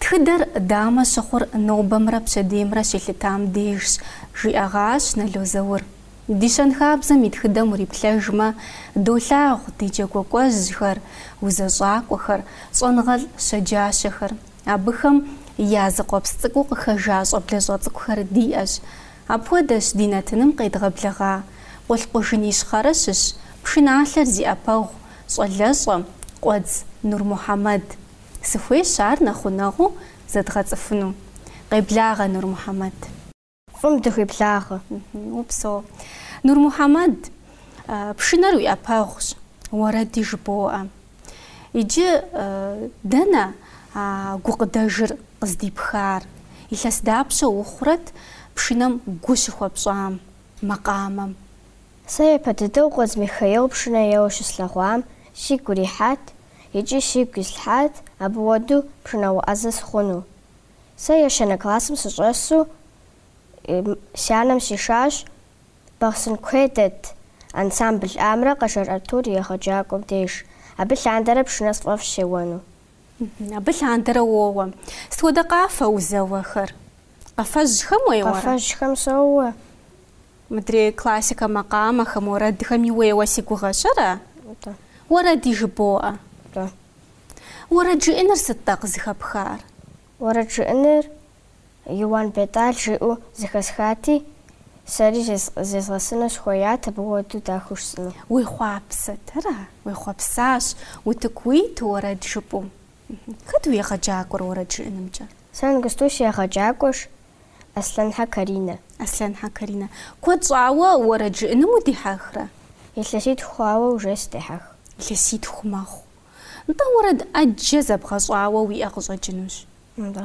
Тхыдэр дамэ щыхъур нобэмрэ пщэдеймрэ щелъытам дежщ, жиӏэгъащ Нало Заур. Ди щэнхабзэм и тхыдэм уриплъэжмэ, долъагъу ди джэгуэкӏуэжьхэр, узэщӏакӏуэхэр, щӏэныгъэлӏ щэджащэхэр. Абыхэм я зыкъуэпс цӏыкӏуу къыхэжа щӏэблэщӏэ цӏыкӏухэр диӏэщ. Апхуэдэщ ди нэтыным къедгъэблэгъа Къулъкъужын Ищхъэрэ щыщ, пшыналъэр зи ӏэпэгъу щӏалэщӏэ, Къуэдз Нурмухьэмэд. Сыхуейщ ар нэхъ гъунэгъуу зэдгъэцӏыхуну, къеблагъэ Нурмухьэмэд. Фӏым дыхуиблагъэ. Упсэу, Нурмухьэмэд, пшынэр уи ӏэпэгъущ, уэрэди жыбоӏэ. Иджы дэнэ а гукъыдэжыр къыздипхар? Илъэс дапщэ ухъурэт пшынэм гу щыхуэпщӏам, макъамэм? Сэ япэ дыдэу Къуэдз Михаил пшынэ еуэу щыслъэгъуам сигу ирихьат, икӏи сигу ислъхьат абы хуэдэу пшынауэ ӏэзэ сыхъуну. Сэ ещанэ классым сыщӏэсу си анэм сишащ Бахъсэн куейм дэт ансамбль Амрэ Къэшэр Артур егъэджакӏуэм деж, абы лъандэрэ пшынэ сфӏэфӏщ сеуэну. Абы лъандэрэ уоуэ. Сыт хуэдэ къафэ узэуэхэр? Къафэжьхэм уеуэрэ? Къафэжьхэм соуэ. Мыдрей классикэ макъамэхэм уэрэдхэми уеуэ си гугъэщ, ара? Нтӏэ. Уэрэди жыбоӏэ. Нтӏэ. Уэрэд жыӏэныр сыт-тӏэ къызыхэпхар? Уэрэд жыӏэныр Иуан Бетӏал жиӏэу зэхэсхати, сэри зезгъэсэну сыхуеят абы хуэдэу дахэу жысӏэну. Уехъуапсэт, ара? Уехъуэпсащ, утыку уиту уэрэд жыпӏэу. Хэт уи егъэджакӏуэр уэрэд жыӏэнымкӏэ? Сэ иджыпсту си егъэджакӏуэщ Аслъэнхьэ Каринэ. Аслъэнхьэ Каринэ. Куэд щӏауэ уэрэд жыӏэным удихьэхрэ? Илъэситху хъуауэ уже сыдехьэх. Илъэситху мэхъу. Нтӏэ, уэрэд ӏэджэ зэбгъэщӏауэ уиӏэ къыщӏэкӏынущ. Нтӏэ.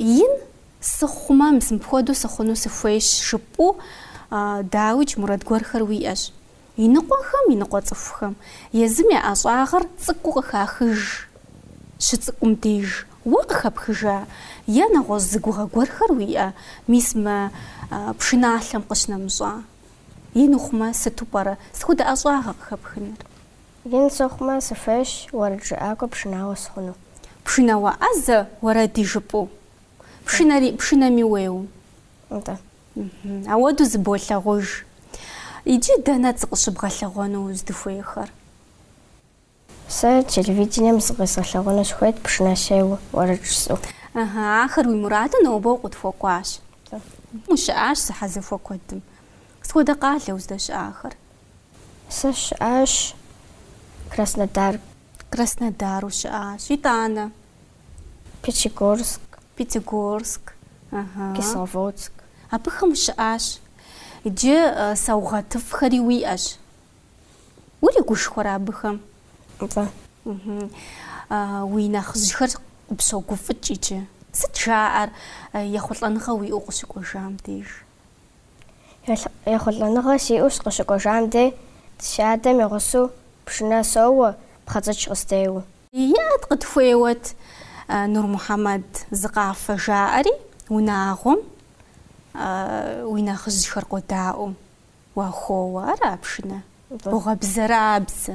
Ин сыхъумэ, мис мыпхуэдэу сыхъуну сыхуейщ, жыпӏэу, дауикӏ, мурад гуэрхэр уиӏэщ. Иныкъуэхэм, иныкъуэ цӏыхухэм, езым я ӏэщӏагъэр цӏыкӏуу къыхахыж щыцӏыкӏум деж, уэ къыхэпхыжа е нэгъуэщӏ зы гугъэ гуэрхэр уиӏэ, мис мы пшыналъэм къыщынэмыщӏа? Ин ухъумэ, сыту пӏэрэ сыт хуэдэ ӏэщӏагъэ къыхэпхыныр? Ин сыхъумэ, сыхуейщ уэрэджыӏакӏуэ пшынауэ сыхъуну. Пшынауэ ӏэзэ уэрэди жыпӏэу. Пшынэри, пшынэми уеуэу. Нтӏэ. Апхуэдэу зыболъагъуж. Иджы дэнэт зыкъыщыбгъэлъэгъуэну уздыхуейхэр? Сэ телевидением зыкъэзгъэлъэгъуэну сыхуейт пшынэ сеуэу уэрэд жысӏэу. Ыхьы, ахэр уи мураду нобэ укъытхуэкӏуащ. Уэ. Ущыӏащ зэхьэзэхуэ куэдым. Сыт хуэдэ къалэ уздэщыӏахэр? Сэ щыӏащ Краснодар. Краснодару щыӏащ. Итӏанэ? Пятигорск. Пятигорск. Ыхьы. Кисловодск. Абыхэм ущыӏащ. Иджы саугъэтыфӏхэри уиӏэщ. Уригушхуэрэ абыхэм? Мвэ. Ыхьы. Уи нэхъыжьхэр къыпщогуфӏыкӏ иджы. Сыт жаӏэр ехъулӏэныгъэ уиӏэу къыщыкӏуэжам деж? Ехъулӏэныгъэ сиӏэу сыкъыщыкӏуэжам дей, си адэм и гъусэу пшынэ соуэ, пхъэцӏыч къыстеуэу. Иӏэт къытхуеуэт, Нурмухьэмэд, зы къафэ жаӏэри, унагъуэм уи нэхъыжьхэр къодаӏуэу. Уахоуэ ара пшынэ? Бгъуэбзэрабзэ.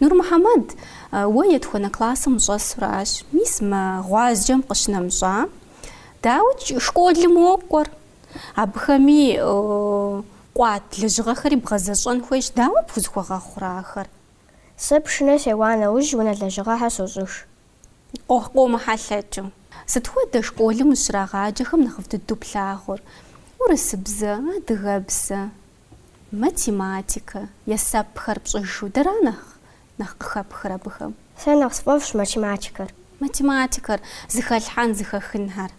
Нурмухьэмэд, уэ етхуэнэ классым ущӏэсуращ, мис мы гъуазджэм къыщынэмыщӏа? Дауэ школым уокӏуэр? Абыхэми къуат лэжьыгъэхэри бгъэзэщӏэн хуейщ, дауэ пхузэхуэгъэхъурэ ахэр? Сэ пшынэ сеуа нэужь унэ лэжьыгъэхэр сощӏыж. Къомыхьэлъэкӏыу. Сыт хуэдэ школым узыщрагъаджэхэм нэхъыфӏ дыдэу плъагъур? Урысыбзэ, адыгэбзэ, Математикэ, есэпхэр пщӏыжу дэра нэхъ нэхъ къыхэпхыр абыхэм? Сэ нэхъ сфӏэфӏщ математикэр. Математикэр, зыхэлъхьэн, зыхэхынхэр.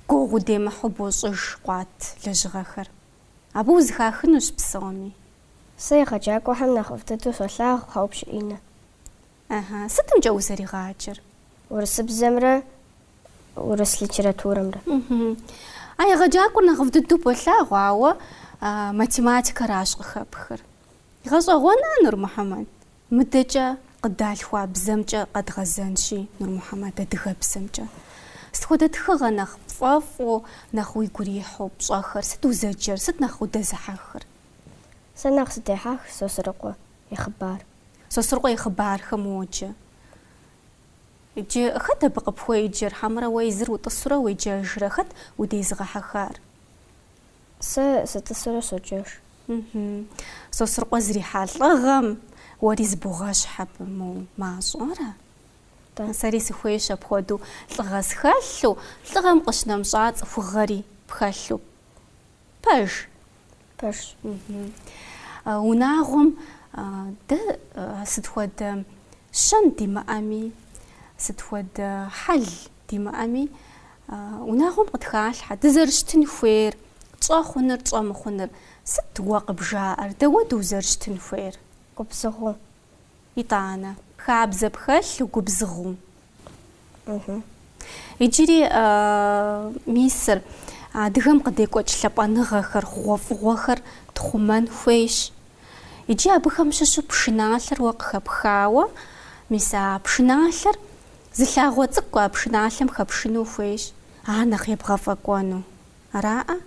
Гугъу удемыхьу бощӏыж къуат лэжьыгъэхэр. Абы узыхахынущ псоми. Сэ егъэджакӏуэхэм нэхъыфӏ дыдэу солъагъу Хьэупщы Иннэ. Ыхьы. Сытымкӏэт узэригъаджэр? Урысыбзэмрэ урыс литературэмрэ. Ыхьы. А егъэджакӏуэр нэхъыфӏ дыдэу болъагъу, ауэ математикэращ къыхэпхыр. Гъэщӏэгъуэнщ, Нурмухьэмэд? Мыдэкӏэ къыдалъхуа бзэмкӏэ къэдгъэзэнщи, Нурмухьэмэд, адыгэбзэмкӏэ. Сыт хуэдэ тхыгъэ нэхъ пфӏэфӏу, нэхъ уигу ирихьу пщӏэхэр? Сыт узэджэр? Сыт нэхъ удэзыхьэхыр? Сэ нэхъ сыдехьэх Сосрыкъуэ и хъыбар. Сосрыкъуэ и хъыбархэм уоджэ. Иджы хэт абы къыпхуеджэр, хьэмэрэ уэ езыр утӏысурэ уеджэжрэ, хэт удезыгъэхьэхар? Сэ сытӏысурэ соджэж. Сосрыкъуэ зэрихьа лӏыгъэм уэри зыбогъэщхь абы, моу, мащӏэрэ? Сэри сыхуейщ апхуэдэу лӏыгъэ схэлъу, лӏыгъэм къыщынэмыщӏа цӏыхугъэри пхэлъу. Пэж. Пэжщ. Унагъуэм дэ сыт хуэдэ щэн димыӏэми, сыт хуэдэ хьэл димыӏэми, унагъуэм къытхалъхьэ дызэрыщытын хуейр, тщӏэ хъуныр, тщӏэ мыхъуныр. Сыт уэ къыбжаӏэр? Дауэ узэрыщытын хуейр? Губзыгъэу. Итӏанэ. Хабзэ пхэлъу, угубзыгъэу. Иджыри мисыр адыгэм къыдекӏуэкӏ лъапӏэныгъэхэр, хъугъуэфӏыгъуэхэр тхъумэн хуейщ. Иджы абыхэм щыщу пшыналъэр уэ къыхэпхауэ, мис а пшыналъэр зы лъагъуэ цӏыкӏу а пшыналъэм хэпшыну ухуейщ, ар нэхъ ебгъэфӏэкӏуэну. Араӏэ?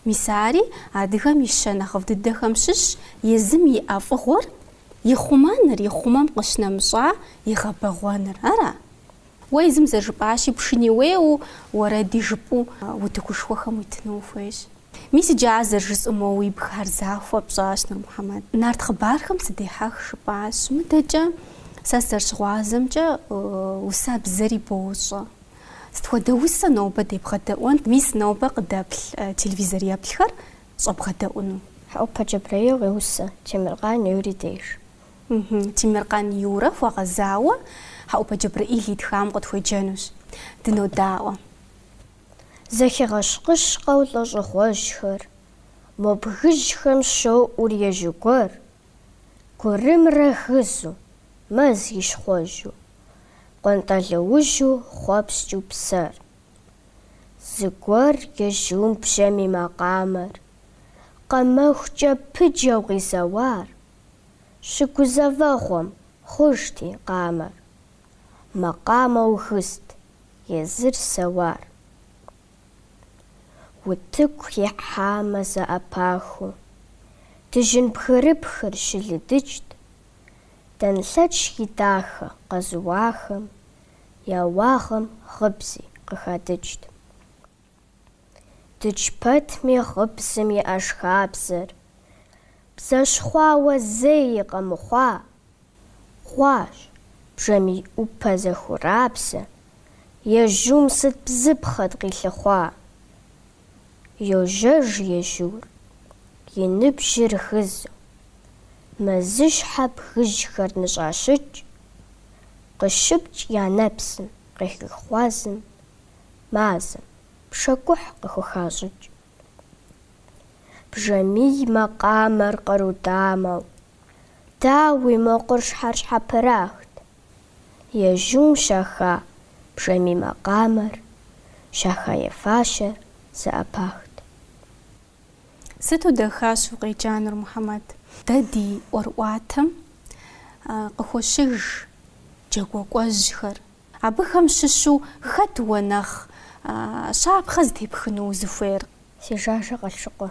Мис ари адыгэм и щэн нэхъыфӏ дыдэхэм щыщщ, езым иӏэ фӏыгъуэр ихъумэныр, ихъумэм къыщнэмыщӏа игъэбэгъуэныр. Ара? Уэ езым зэрыжыпӏащи, пшыни уеуэу, уэрэди жыпӏэу утыкушхуэхэм уитыну ухуейщ. Мис иджы ар зэрыжысӏэу моуэ уи бгхэр захуэ пщӏащ, Нурмухьэмэд. Нарт хъыбархэм сыдехьэх, жыпӏащ. Мыдэкӏэ сэ сызэрыщыгъуазэмкӏэ, усэбзэри бощӏэ. Сыт хуэдэ усэ нобэ дебгъэдэӏуэнт, мис нобэ къыдэплъ телевизор еплъхэр щӏэбгъэдэӏуну? Хьэӏупэ Джэбрэил къеусэ Темыркъан Юри деж. Темыркъан Юрэ хуэгъэзауэ Хьэӏупэ Джэбрэил итхам къытхуеджэнущ. Дынодаӏуэ. Зэхигъэщкъыщкъэу лӏэщӏыгъуэжьхэр, мо бгыжьхэм щоӏур ежьу гуэр, Гурымрэ гызу, мэзыщхъуэжьу. Къуантӏалэужьу хъуэпскӏыу псэр. Зыгуэр ежьум бжьамий макъамэр. Къэмэхукӏэ пыджэу къизэуар. Щыгузэвэгъуэм, хъужт и къамэр. Макъамэу гызт, езыр сэуар. Утыку ихьамэ зэӏэпахыу. Дыжьын бгырыпхыр щылыдыкӏт. Дэнлъэч и дахэ къэзыуахэм я уагъэм гъыбзи къыхадыкӏт. Дыдж пэтми гъыбзэм и ӏэшхабзэр бзэщхъуауэ зэи къэмыхъуа хъуащ, бжьамий ӏупэ зэхурабзэ, ежьум сыт бзыпхъэт къилъыхъуа! Йожьэж ежьур, и ныбжьыр гызу. Мэзыщхьэ бгыжьхэр ныщӏащыкӏ, Къыщыпкӏ я нэпсым къехыхъуазым Мазэм пшэкӏухь къыхухащӏыкӏ. Бжьамий макъамэр къару дамэу, Дауи, мо къурщхьэр щхьэпрахт, Ежьум щаха бжьамий макъамэр, щаха и фащэр зэӏэпахт. Сыту дахащэу укъеджа, Нурмухьэмэд. Дэ ди ӏуэрыӏуатэм къыхощыж джэгуэкӏуэжьхэр. Абыхэм щыщу хэт уэ нэхъ щапхъэ зытепхыну узыхуейр? Сижажэ Къылъшыкъуэ.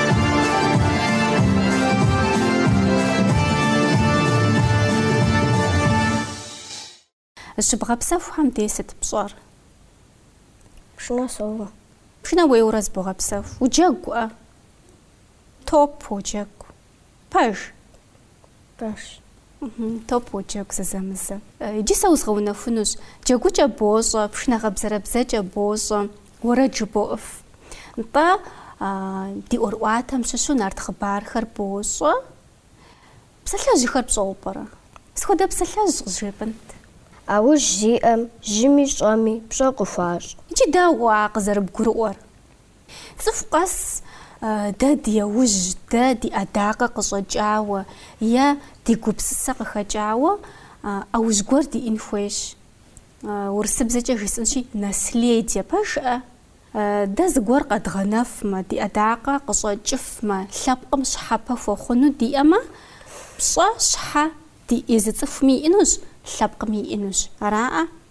Зыщыбгъэпсэхухэм дей сыт пщӏэр? Пшынэ соуэ. Пшынэ уеуэурэ зыбогъэпсэху. Уджэгуӏэ? Топ уджэгу. Пэж. Пэж. Топ уоджэгу зэзэмызэ. Иджы сэ узгъэунэхунущ. Джэгукӏэ бощӏэ, пшынэ гъэбзэрэбзэкӏэ бощӏэ, уэрэд жыбоӏыф. Нтӏэ, ди ӏуэрыӏуатэм щыщу нарт хъыбархэр бощӏэ. Псалъэжьхэр пщӏэуэ пӏэрэ? Сыт хуэдэ псалъэжь къызжепӏэнт. ӏэужь зиӏэм жьыми щӏэми пщӏэ къыхуащӏ. Иджы дауэ а къызэрыбгурыӏуэр? Цӏыху къэс дэ ди ӏэужь, дэ ди ӏэдакъэ къыщӏэкӏауэ е ди гупсысэ къыхэкӏауэ ӏэужь гуэр диӏэн хуейщ. Урысыбзэкӏэ жысӏэнщи, наследие пэжыӏэ. Дэ зыгуэр къэдгъэнэфмэ, ди ӏэдакъэ къыщӏэкӏыфмэ, лъэпкъым щхьэпэ хуэхъуну диӏэмэ, пщӏэ щхьэ ди езы цӏыхуми иӏэнущ, лъэпкъми иӏэнущ. Араӏэ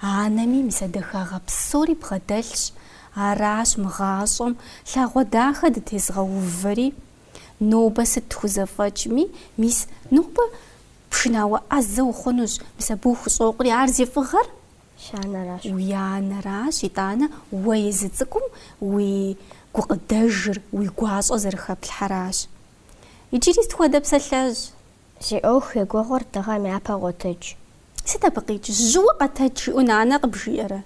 Анэми мис а дахагъэ псори бгъэдэлъщ, аращ мы гъащӏэм лъагъуэ дахэ дытезыгъэувэри. Нобэ сыт тхузэфӏэкӏми, мис нобэ пшынауэ ӏэзэ ухъунущ, мис абы ухущӏокъури, ар зи фӏыгъэр? Си анэращ. Уи анэращ, итӏанэ уэ езы цӏыкӏум уи гукъыдэжыр, уи гуащӏэ зэрыхэплъхьэращ. Иджыри сыт хуэдэ псалъэжь? Зи ӏуэху егугъур дыгъэм япэ къотэдж. Сыт абы къикӏ, жьыуэ къэтэдж жиӏэу нанэ къыбжиӏэрэ?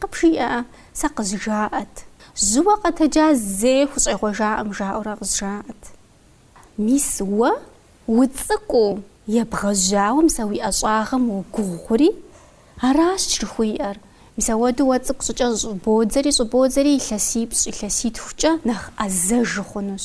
Къыбжиӏэ, сэ къызжаӏэт. Жьыуэ къэтэджа зэи хущӏегъуэжакъым жаӏэурэ къызжаӏэт. Мис уэ уцӏыкӏуу ебгъэжьауэ мис а уи ӏэщӏагъэм уогугъури, аращ жыхуиӏэр. Мис ауэдэу уэ уцӏыкӏу щӏыкӏэ щӏыбодзэри щӏыбодзэри илъэсипщӏ, илъэситхукӏэ нэхъ ӏэзэж ухъунущ.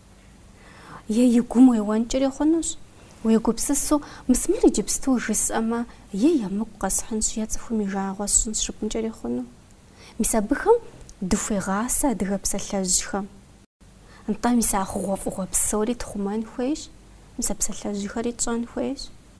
Е и гум уеуэнкӏэри хъунущ. Уегупсысу, мис мыр иджыпсту жысӏэмэ, е емыкӏу къэсхьынщ, е цӏыхум и жагъуэ сщӏынщ жыпӏэнкӏэри хъуну. Мис абыхэм дыхуегъасэ адыгэ псалъэжьхэм. Нтӏэ, мис а хъугъуэфӏыгъуэ псори тхъумэн хуейщ, мис а псалъэжьхэри тщӏэн хуейщ.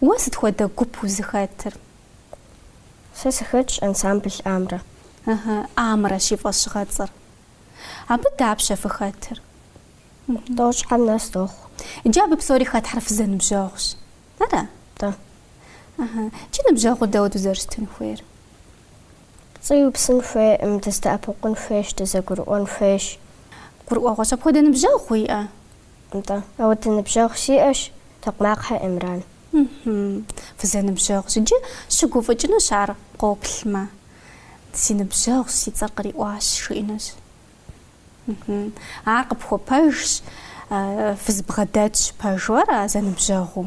Уэ сыт хуэдэ гуп узыхэтыр? Сэ сыхэтщ ансамбль Амрэ. Ыхьы, Амрэщ и фӏэщыгъэцӏэр. Абы дапщэ фыхэтыр? Тӏощӏым нэс дохъу. Иджы абы псори хэтхэр фызэныбжьэгъущ. Ара? Нтӏэ. Ыхьы. Джы ныбжьэгъур дапхуэдэу зэрыщытын хуейр? Пцӏы иупсын хуейкъым, дыздэӏэпыкъун хуейщ, дызэгурыӏуэн хуейщ. Гурыӏуэгъуэщ. Апхуэдэ ныбжьэгъу уиӏэ? нтӏэ. Апхуэдэ ныбжьэгъу сиӏэщ, Токъмакъхэ Эмран. Ыхьы, фызэныбжьэгъущ, иджы щыгуфӏыкӏынущ ар къоплъмэ. Си ныбжьэгъущ, си цӏэр къриӏуащ, жиӏэнущ. Ыхьы, ар къыпхуэпэжщ, фызбгъэдэтщ пэжуэрэ зэныбжьэгъуу.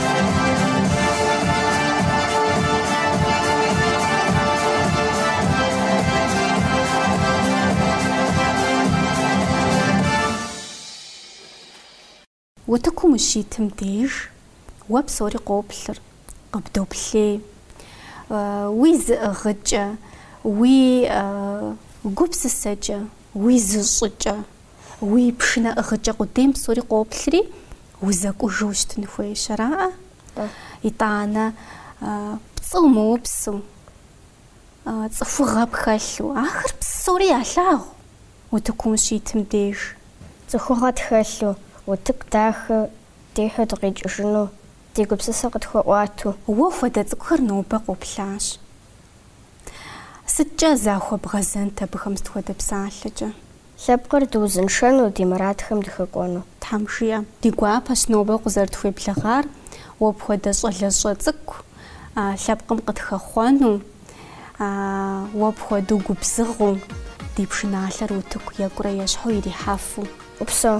Утыкум ущитым деж уэ псори къоплъыр, къыбдоплъей. Уи зыӏыгъыкӏэ, уи гупсысэкӏэ Уи зыщӏыкӏэ, уи пшынэ ӏыгъыкӏэ къудейм псори къоплъри, узэкӏужу ущытын хуейщ, араӏэ? Итӏанэ, пцӏы умыупсу, цӏыхугъэ пхэлъу, ахэр псори ялъагъу утыкум ущитым деж. Цӏыхугъэ тхэлъу, утыку дахэ дихьу дыкъикӏыжыну ди гупсысэ къытхуэӏуату. Уэ хуэдэ цӏыкӏухэр нобэ къоплъащ. Сыткӏэ захуэбгъэзэнт абыхэм сыт хуэдэ псалъэкӏэ? Лъэпкъыр дыузыншэну, ди мурадхэм дыхуэкӏуэну. Тхьэм жиӏэ. Ди гуапэщ нобэ укъызэрытхуеблэгъар уэ пхуэдэ щӏалэщӏэ цӏыкӏу лъэпкъым къытхэхъуэну, уэ пхуэдэу губзыгъэу, ди пшыналъэр утыку екӏурэ ещхьу ирихьэфу. Упсэу.